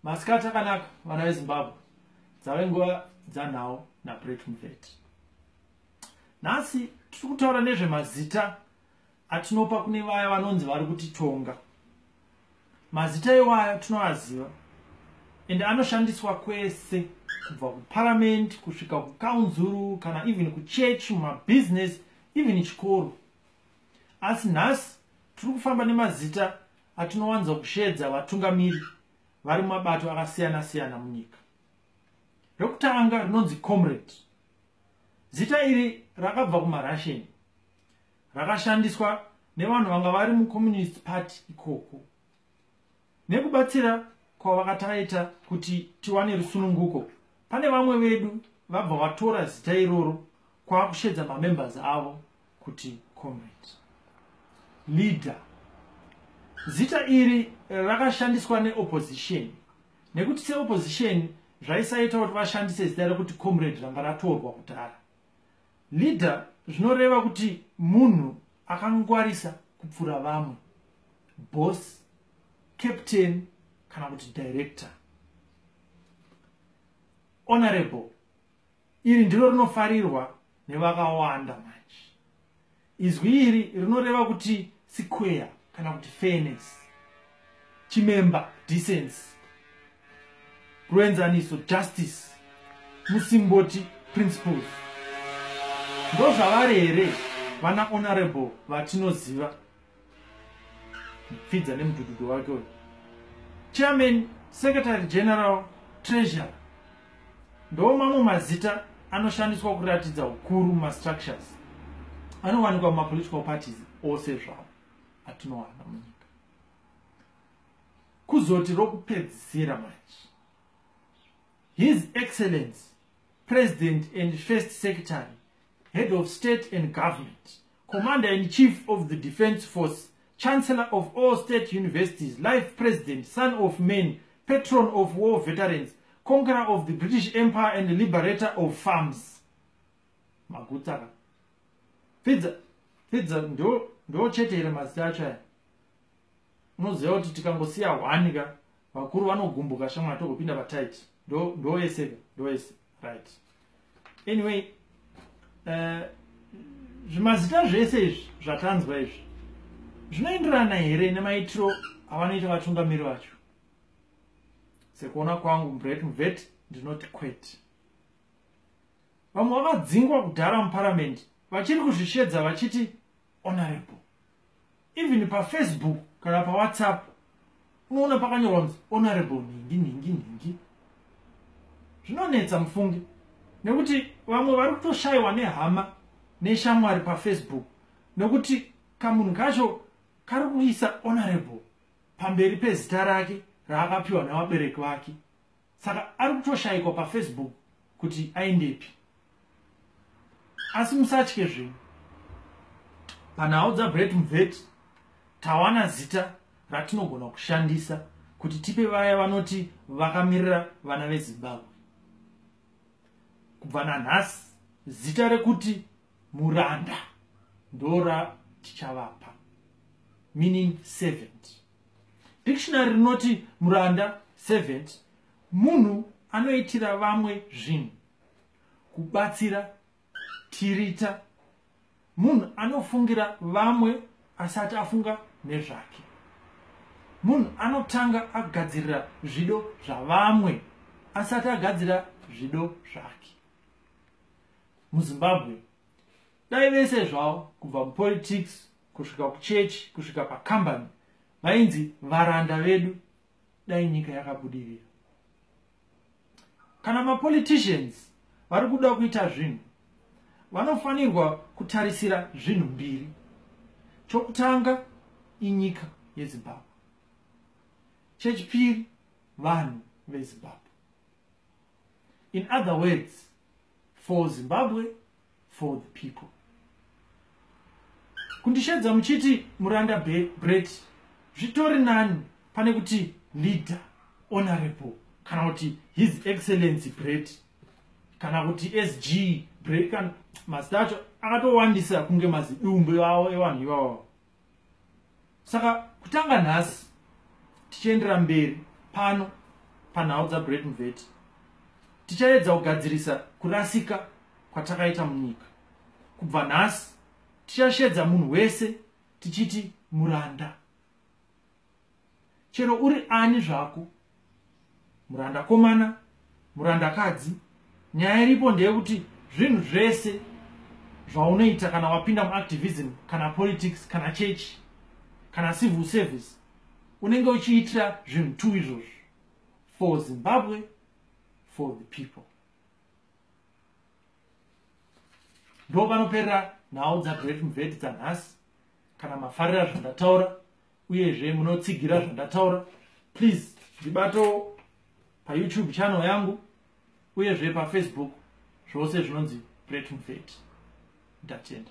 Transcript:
masikati akanaka vana vezimbabwe dzave nguva dzanhau nabret muvet nhasi tiri kutaura nezvemazita atinopa kune vaya vanonzi vari kutitonga mazita iwayo tinoaziva ende anoshandiswa kwese kubva kuparamend kusvika kukaunzuru kana even kuchechi mumabhizinesi even chikoro asi nhasi tiri kufamba nemazita atinowanza kusheedza vatungamiri vari mumabato akasiyana siyana munyika rokutanga rinonzi comrade zita iri rakabva kumarushian rakashandiswa nevanhu vanga vari mucommunist party ikoko nekubatsira kwavakataita kuti tiwane rusununguko pane vamwe vedu vabva vatora zita iroro kwava kushedza mamembers avo kuti comrade leader zita iri rakashandiswa neopposition nekuti seopposition zvaisaita kuti vashandise zita rekuti comrade ranga ratorwa kudhara leader zvinoreva kuti munhu akangwarisa kupfura vamwe boss captain kana kuti director honorable Iri ndiro rinofarirwa nevakawanda manje. Izwi iri rinoreva kuti sikweya kana kuti fairness, chimemba, decency, ruenzaniso, justice, musimboti, principles. Ndozvavari here vana honorable vatinoziva pfidza nemudududu wake uyu chairman secretary general treasurer ndo mamwe mazita anoshandiswa kuratidza ukuru mumastructures anowanikwa mumapolitical parties ose zvavo atinowana munyika kuzoti rokupedzisira manje his excellence president and first secretary head of state and government Commander in Chief of the Defense Force, Chancellor of all state universities, life president, son of men, patron of war veterans, conqueror of the British Empire and liberator of farms. Maguta. Pizza. Pizza ndo ndo chete here mazita acho aya. Unoziva kuti tikangosiya hwani ka vakuru vanogumbuka shamwari togopinda patight. Ndo ndo ese ndo ese. right anyway uh, zvimazita zvese izvi zvatanzwa izvi zvinoenderana here nemaitiro avanoita vatungamiri vacho sekuona kwangu mbret mvet ndinoti kwete vamwe vavadzingwa kudhara muparamende vachiri kuzvishedza vachiti honorable even pafacebook kana pawhatsapp unoona pakanyorwa kunzi honorable nhingi nhingi nhingi zvinonetsa mufunge nekuti vamwe vari kutoshayiwa nehama neshamwari pafacebook nekuti kamunhu kacho kari kuisa honorable pamberi pezita rake raakapiwa nevabereki vake saka ari kutoshaikwa pafacebook kuti aendepi asi musatye zvenyu panhau dzagreat mvet tawana zita ratinogona kushandisa kuti tipe vaya vanoti vakamirira vana vezimbabwe kubva nanhasi zita rekuti muranda ndora tichavapa meaning servant dictionary rinoti muranda servant munhu anoitira vamwe zvinhu kubatsira tirita munhu anofungira vamwe asati afunga nezvake munhu anotanga agadzirira zvido zvavamwe asati agadzira zvido zvake muzimbabwe dai vese zvavo kubva mupolitics kusvika kuchechi kusvika pakambani vainzi varanda vedu dai nyika yakabudirira kana mapoliticians vari kuda kuita zvinhu vanofanirwa kutarisira zvinhu mbiri chokutanga inyika yezimbabwe chechipiri vanhu vezimbabwe in other words for zimbabwe for the people kundishedza muchiti muranda bret zvitori nani pane kuti leader honorable kana kuti his excellency bret kana kuti sg bret kana mazita acho akatowandisa kunge mazidumbu avo evanhu ivavo saka kutanga nhasi tichiendera mberi pano panhau dzagreat mveti tichaedza kugadzirisa kurasika kwatakaita munyika kubva nhasi tichashedza munhu wese tichiti muranda chero uri ani zvako muranda komana muranda kadzi nyaya iripo ndeyekuti zvinhu zvese zvaunoita kana wapinda muactivism kana politics kana church kana civil service unenge uchiitira zvinhu two izvozvo for zimbabwe for the people ndo panoperera nhau dzagreat mveti dzanhasi kana mafarira zvandataura uyezve munotsigira zvandataura please ndibatewo payoutube channel yangu uyezve pafacebook zvose zvinonzi bretmvet ndatenda